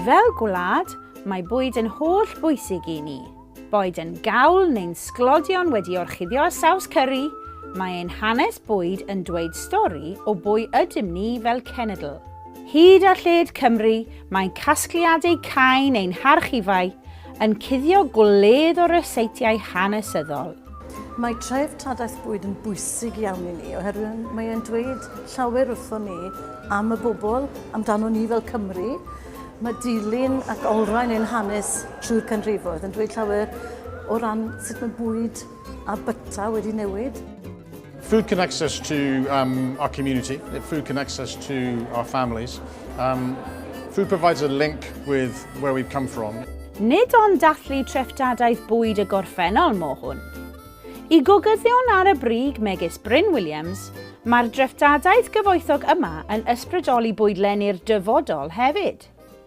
Fel gwlad, mae bwyd yn holl bwysig i ni. Boed yn gawl neu'n sglodion wedi orchuddio a saws cyri, mae ein hanes bwyd yn dweud stori o bwy ydym ni fel cenedl. Hyd a lled Cymru, mae casgliadau cain ein harchifau yn cuddio gwledd o ryseitiau hanesyddol. Mae treftadaeth bwyd yn bwysig iawn i ni oherwydd mae e'n dweud llawer wrthon ni am y bobl, amdano ni fel Cymru. Mae dilyn ac olrhain ein hanes trwy'r canrifoedd yn dweud llawer o ran sut mae bwyd a byta wedi newid. Food connects us to um, our community, food connects us to our families. Um, food provides a link with where we've come from. Nid ond dathlu treftadaeth bwyd y gorffennol mo hwn. I gogyddion ar y brig megis Bryn Williams, mae'r dreftadaeth gyfoethog yma yn ysbrydoli bwydlenni'r dyfodol hefyd.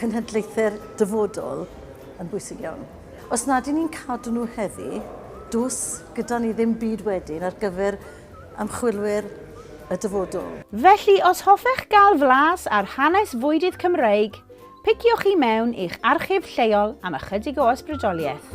cenhedlaethau'r dyfodol yn bwysig iawn. Os nad y'n ni'n cadw nhw heddi, does gyda ni ddim byd wedyn ar gyfer ymchwilwyr y dyfodol. Felly, os hoffech gael flas ar hanes fwydydd Cymreig, piciwch i mewn i'ch archif lleol am ychydig o ysbrydoliaeth.